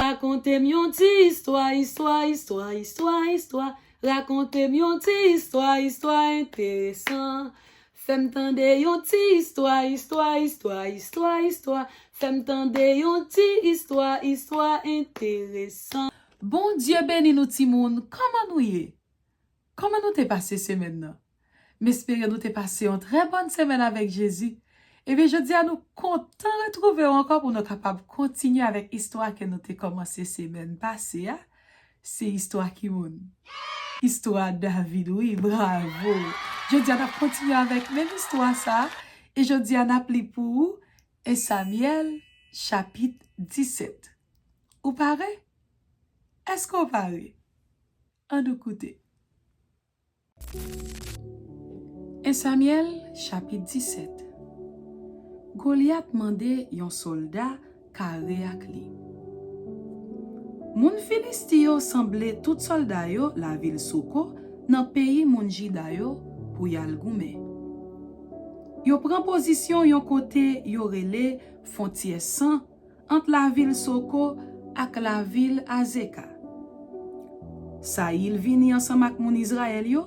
Rakonte m yon ti istwa Istwa istwa istwa istwa Rakonte m yon ti istwa Istwa enteresan Fè m tande yon ti istwa Istwa istwa istwa istwa Fè m tande yon ti istwa Istwa enteresan. Bondye beni nou timoun, kòman nou ye? Kòman nou te pase semèn nan? M espere nou te pase yon trè bòn semèn avèk Jezi. Ebyen jodi a nou kontan retwouve w ankò pou nou kapab kontinye avèk istwa ke nou te kòmanse semèn pase a, se istwa ki moun? Istwa David wi, bravo! Jodi a n ap kontinye avèk menm istwa sa a, e jodi a n ap li pou ou 1 Samyèl chapit 17. Ou pare? Èske w pare? An nou koute. 1 Samyèl chapit 17 Golyat mande yon sòlda kare ak li Moun Filisti yo sanble tout sòlda yo lavil Soko nan peyi moun Jida yo pou y al goumen. Yo pran pozisyon yon kote yo rele Fontyè San Ant lavil Soko ak lavil Azeka. Sayil vini ansanm ak moun Izrayèl yo,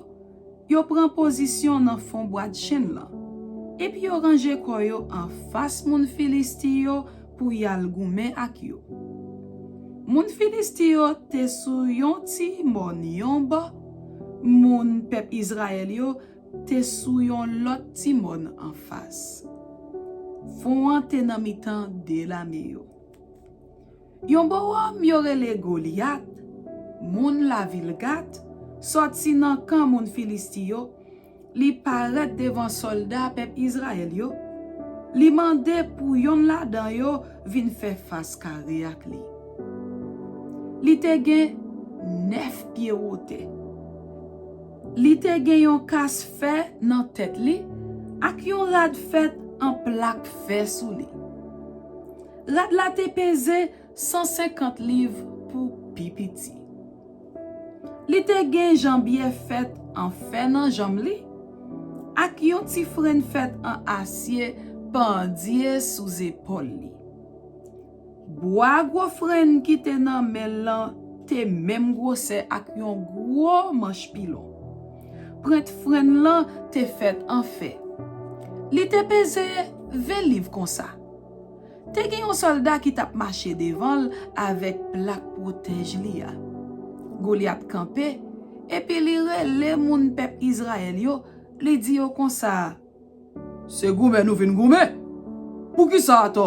yo pran pozisyon nan fon bwadchenn lan, epi yo ranje kò yo anfas moun Filisti yo pou y al goumen ak yo. Moun Filisti yo te sou yon ti mòn yon bò, moun pèp Izrayèl yo Te sou yon lòt ti mòn anfas. Fon an te nan mitan de lame yo. Yon bò òm yo rele Golyat, moun lavil Gat, sòti nan kan moun Filisti yo, li parèt devan sòlda pèp Izrayèl yo, li mande pou yonn ladan yo vin fè fas kare ak li. Li te gen nèf pye wotè. Li te gen yon kas fè nan tèt li ak yon rad fèt an plak fè sou li. Rad la te peze sansenkant liv pou pi piti. Li te gen janbiyè fèt an fè nan janm li, ak yon ti frenn fèt an asye pandye sou zepòl li. Bwa gwo frenn ki te nan men l lan te menm gwosè ak yon gwo manch pilon. Prent frenn lan te fèt an fè. Li te peze ven liv konsa. Te gen yon sòlda ki t ap mache devan l avèk plak pwotèj li a. Golyat kanpe epi li rele moun pèp Izrayèl yo, li di yo konsa, Se goumen nou vin goumen. Poukisa atò?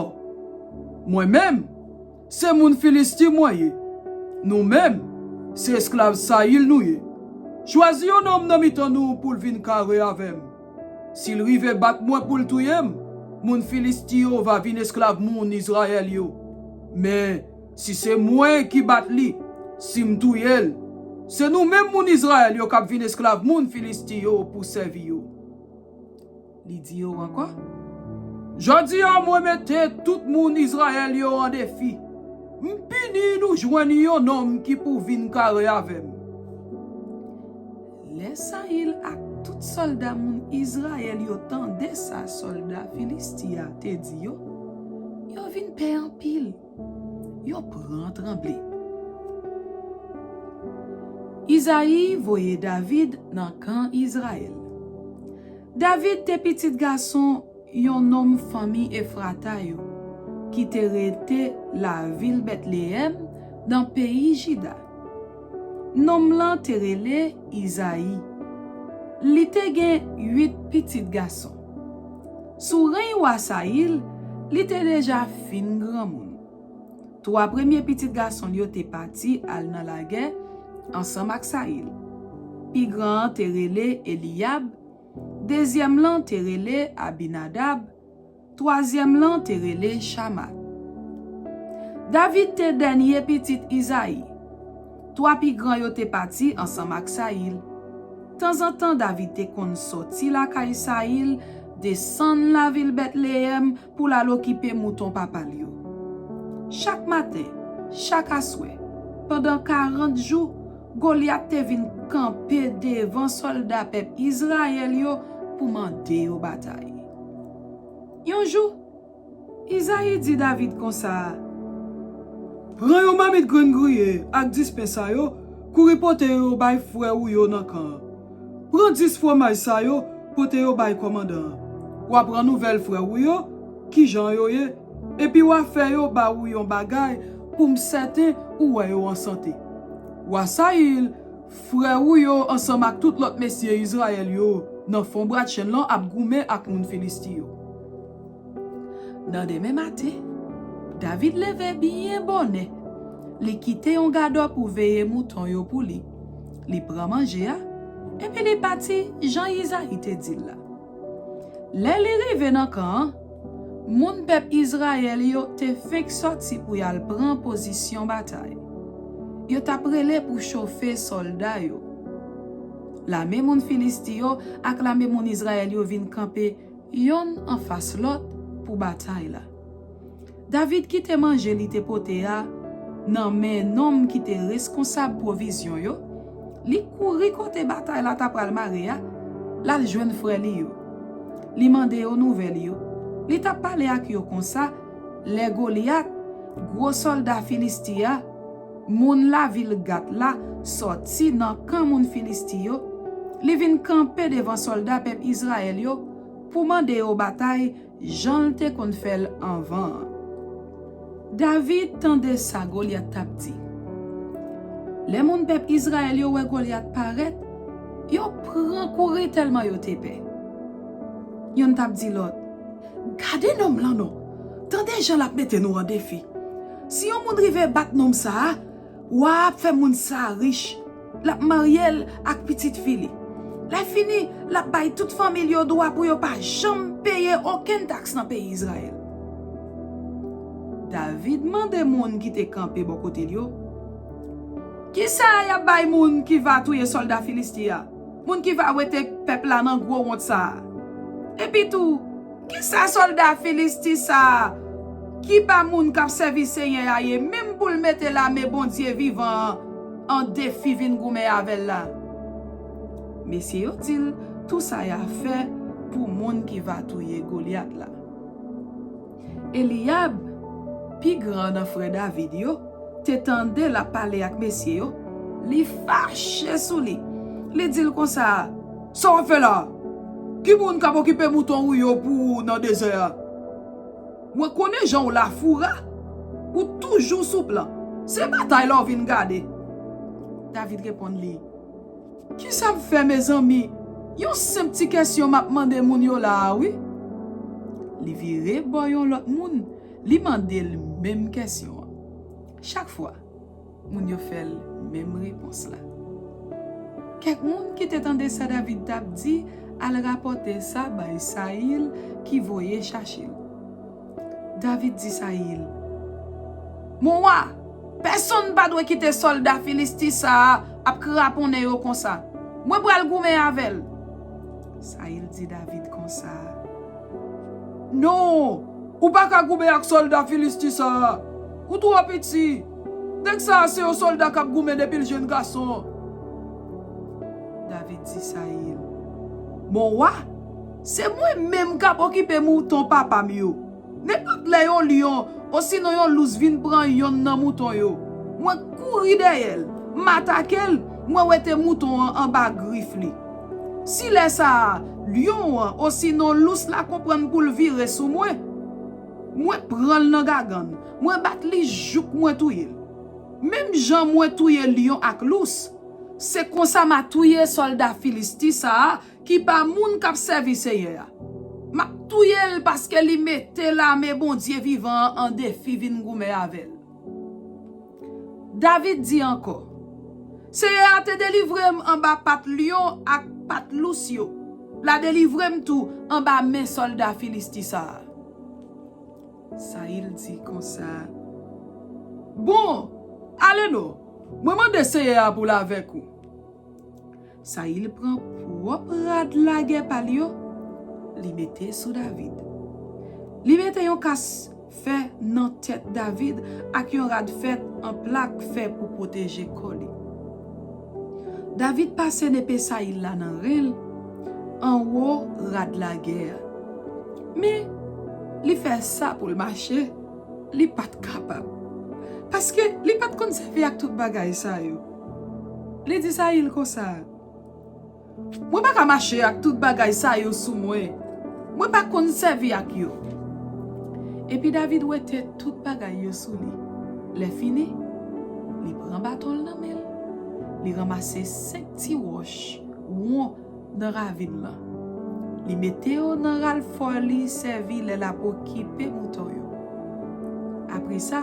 Mwen menm, se moun Filisti mwen ye. Nou menm, se esklav Sayil nou ye. Chwazi yon nonm nan mitan nou pou l vin kare avè m. Si l rive bat mwen pou l touye m, moun Filisti yo va vin esklav moun Izrayèl yo. Men, si se mwen ki bat li, si m touye l, se nou menm moun Izrayèl yo k ap vin esklav moun Filisti yo pou sèvi yo. Li di yo ankò, Jòdi a mwen mete tout moun Izrayèl yo an defi, m pini nou jwenn yon nonm ki pou vin kare avè m. Lè Sayil ak tout sòlda moun Izrayèl yo tande sa sòlda Filisti a te di yo, yo vin pè anpil. Yo pran tranble. Izayi voye David nan kan Izrayèl. David te pitit gason yon nonm fanmi Efrata yo ki te rete lavil Betleyèm nan peyi Jida. Nonm lan te rele Izayi. Li te gen uit pitit gason. Sou reny wa Sayil, li te deja fin granmoun. Twa premye pitit gason l yo te pati al nan lagè ansanm ak Sayil. Pi gran an te rele Eliyab, dezyèm lan te rele Abinadab, twazyèm lan te rele Chama. David te dènye pitit Izayi. Twa pi gran yo te pati ansanm ak Sayil. Tanzantan David te konn soti lakay Sayil, desann lavil Betleyèm pou l al okipe mouton papa l yo. Chak maten, chak aswè, pandan karant jou, Golyat te vin kanpe devan sòlda pèp Izrayèl yo pou mande yo batay. Yon jou, Izayi di David konsa, Pran yon mamit grenn griye ak dis pen sa yo, kouri pote yo bay frè ou yo nan kan an. Pran dis fwomaj sa yo, pote yo bay kòmandan an. W ap renouvèl frè ou yo ki jan yo ye, epi w a fè yo ba ou yon bagay pou m sèten ou wè yo an sante. Wa Sayil, frè ou yo ansanm ak tout lòt mesye Izrayèl yo nan fon bradchenn lan ap goumen ak moun Filisti yo. Nan demen maten, David leve byen bonè, li kite yon gadò pou veye mouton yo pou li, li pran manje a, epi li pati jan Izayi te di l la. Lè li rive nan kan an, moun pèp Izrayèl yo te fenk sòti pou y al pran pozisyon batay. Yo t ap rele pou chofe sòlda yo. Lame moun Filisti yo ak lame moun Izrayèl yo vin kanpe yonn anfas lòt pou batay la. David kite manje li te pote a nan men nonm ki te reskonsab pwovizyon yo, li kouri kote batay la t apral mare a, l al jwenn frè li yo. Li mande yo nouvèl yo. Li t ap pale ak yo konsa lè Golyat, gwo sòlda Filisti a, Moun lavil Gat la sòti nan kan moun Filisti yo, li vin kanpe devan sòlda pèp Izrayèl yo pou mande yo batay jan l te konn fè l anvan an. David tande sa Golyat t ap di. Lè moun pèp Izrayèl yo wè Golyat parèt, yo pran kouri tèlman yo te pè. Youn t ap di lòt, Gade nonm lan non! Tande jan l ap mete nou an defi! Si yon moun rive bat nonm sa a, wa a ap fè moun sa a rich, l ap marye l ak pitit fi li. Lèfini, l ap bay tout fanmi l yo dwa pou yo pa janm peye okenn taks nan peyi Izrayèl. David mande moun ki te kanpe bò kote l yo, Ki sa y ap bay moun ki va touye sòlda Filisti a, moun ki va wete pèp la nan gwo wont sa a? Epitou, Ki sa sòlda Filisti sa a, ki pa moun k ap sèvi Senyè a, ye menm pou l mete lame Bondye vivan an an defi vin goumen avè l la? Mesye yo di l, Tou sa y a fè pou moun ki va touye Golyat la. Eliyab, pi gran nan frè David yo, te tande l ap pale ak mesye yo, li fache sou li, li di l konsa, Sa wap fè la? Ki moun kap okipe mouton ou yo pou ou nan dezè a? Mwen konnen jan ou lafoura, ou toujou sou plan. Se batay la ou vin gade. David reponn li, Kisa m fè mezanmi? Yon senp ti kesyon map mande moun yo la a wi. Li vire bò yon lòt moun, li mande l menm kesyon an. Chak fwa. Moun yo fè l menm repons la. Kèk moun ki te tande sa David t ap di al rapòte sa bay Sayil ki voye chache l. David di Sayil, Mon wa, pèsonn pa dwe kite sòlda Filisti sa a ap kraponnen yo konsa. Mwen pral goumen avè l. Sayil di David konsa, Non, ou pa ka goumen ak sòlda Filisti sa a. Ou twò piti. Nèg sa a se yon sòlda k ap goumen depi l jenn gason. David di Sayil, Mon wa, se mwen menm k ap okipe mouton papa m yo. Nenpòt lè yon lyon osinon yon lous vin pran yonn nan mouton yo, mwen k kouri dèyè l, m atake l, mwen wete mouton an anba grif li. Si lè sa a, lyon an osinon lous la konprann pou l vire sou mwen, Mwen pran l nan gagann. Mwen bat li jouk mwen touye l. Menm jan mwen touye lyon ak lous, se konsa m a touye sòlda Filisti sa a ki pa moun k ap sèvi Senyè a. M ap touye l paske li mete lame Bondye vivan an an defi vin goumen avè l. David di ankò, Seyè a te delivre m anba pat lyon ak pat lous yo, l a delivre m tou anba men sòlda Filisti sa a. Sayil di konsa, Bon, ale non, mwen mande Seyè a pou l avèk ou. Sayil pran pwòp rad lagè pa l yo, li mete sou David. Li mete yon kas fè nan tèt David ak yon rad fèt an plak fè pou pwoteje kò li. David pase nepe Sayil la nan ren l, anwo rad lagè a. Men, li fè sa pou l mache, li pa t kapab. Paske, li pa t konn sèvi ak tout bagay sa yo. Li di Sayil konsa, Mwen pa ka mache ak tout bagay sa yo sou mwen. Mwen pa konn sèvi ak yo. Epi David wete tout bagay yo sou li. Lèfini, li pran baton l nan men l, li ranmase senk ti wòch won. nan ravin lan. Li mete yo nan ral fò li sèvi lè l ap okipe mouton yo. Apre sa,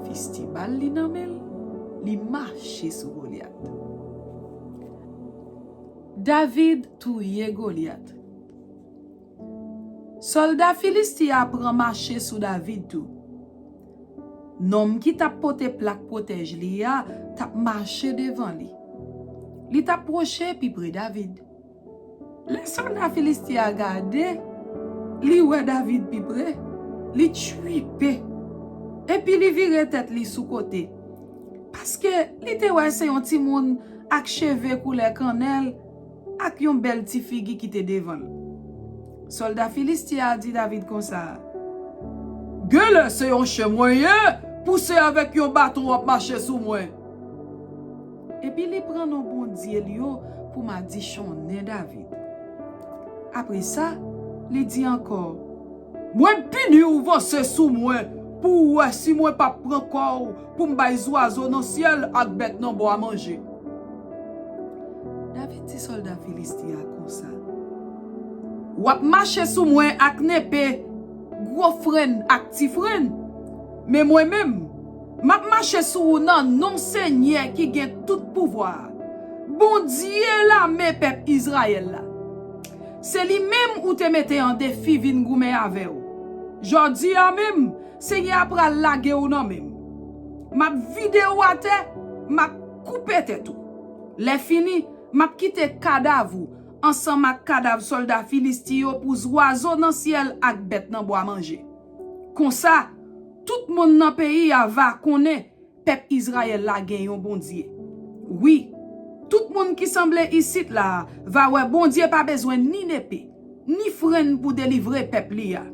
fis ti bal li nan men l, li mache sou Golyat. David touye Golyat. Sòlda Filisti a pran mache sou David tou. Nonm ki t ap pote plak pwotèj li a t ap mache devan li. Li t ap pwoche pi pre David. Lè sòlda Filisti a gade, li wè David pi pre, li tchiipe, epi li vire tèt li sou kote, paske li te wè se yon timoun ak cheve koulè kannèl. Ak yon bèl ti figi ki te devan l. Sòlda Filistin an di David konsa. Genlè se yon chen mwen ye, pou se avèk yon baton w ap mache sou mwen! Epi li pran non bondye l yo pou madichonnen David. Apre sa, li di ankò. Mwen pini w vanse sou mwen pou w wè si mwen pap pran kò w pou m bay zwazo nan syèl ak bèt nan bwa manje. David di sòlda Filisti a konsa, W ap mache sou mwen ak nepe gwo frenn ak ti frenn, men mwen menm, m ap mache sou ou nan non Senyè ki gen tout pouvwa a, Bondye lame pèp Izrayèl la. Se li menm ou te mete an defi vin goumen avè w. Jòdi a menm, Senyè a pral lage w nan men m. M ap vide ou atè, m ap koupe tèt ou. Lèfini, m ap kite kadav ou ansanm ak kadav sòlda Filisti yo pou zwazo nan syèl ak bèt nan bwa manje. Konsa, tout moun nan peyi a va konnen Pèp Izrayèl la gen yon Bondye. Wi, tout moun ki sanble isit la a va wè Bondye pa bezwen ni nepe, ni frenn pou delivre pèp li a.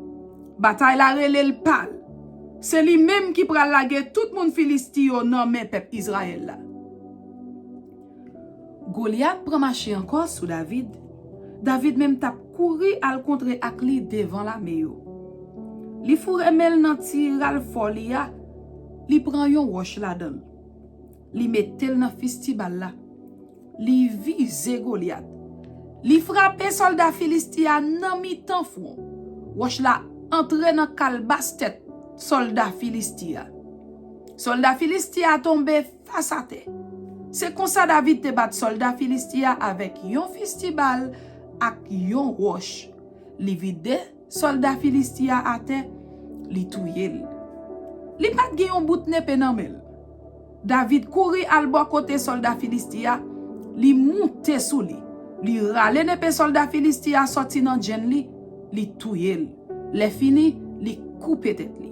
Batay la rele l pa l. Se li menm ki pral lage tout moun Filisti yo nan men pèp Izrayèl la. Golyat pran mache ankò sou David. David menm t ap kouri al kontre ak li devan lame yo. Li foure men l nan ti ralfò li a, li pran yon wòch ladan l. Li mete l nan fistibal la. Li vize Golyat. Li frape sòlda Filisti a nan mitan fwon. Wòch la antre nan kalbas tèt sòlda Filisti a. Sòlda Filisti a tonbe Fas atè. Se konsa David te bat sòlda Filisti a avèk yon fisti bal ak yon wòch. Li vide sòlda Filisti a atè, li touye l. Li pa t gen yon bout nepe nan men l. David kouri al bò kote sòlda Filisti a, li moute sou li, li rale nepe sòlda Filisti a sòti nan djenn li, li touye l. Lèfini, li koupe tèt li.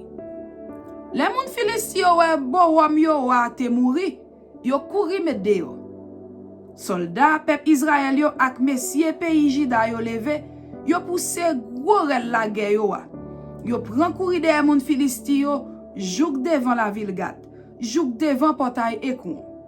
Lè moun Filisti yo wè Bowòm yo wa a te mouri, yo kouri met deyò. Sòlda pèp Izrayèl yo ak mesye peyi Jida yo leve, yo pouse gwo rèl lagè yo a, yo pran kouri dèyè moun Filisti yo jouk devan lavil Gat, jouk devan Pòtay Ekwon.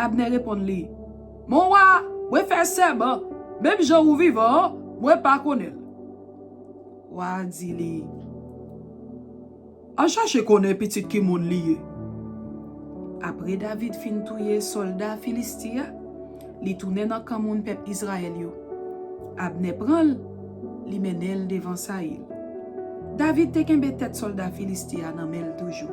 Abnè reponn li, Mon wa, mwen fè sèman, menm jan ou vivan an, mwen pa konnen l. Wa a di li, Al chache konnen pitit ki moun li ye. Apre David fin touye sòlda Filisti a, li tounen nan kan moun pèp Izrayèl yo. Abnè pran l, li mennen l devan Sayil. David te kenbe tèt sòlda Filisti a nan men l toujou.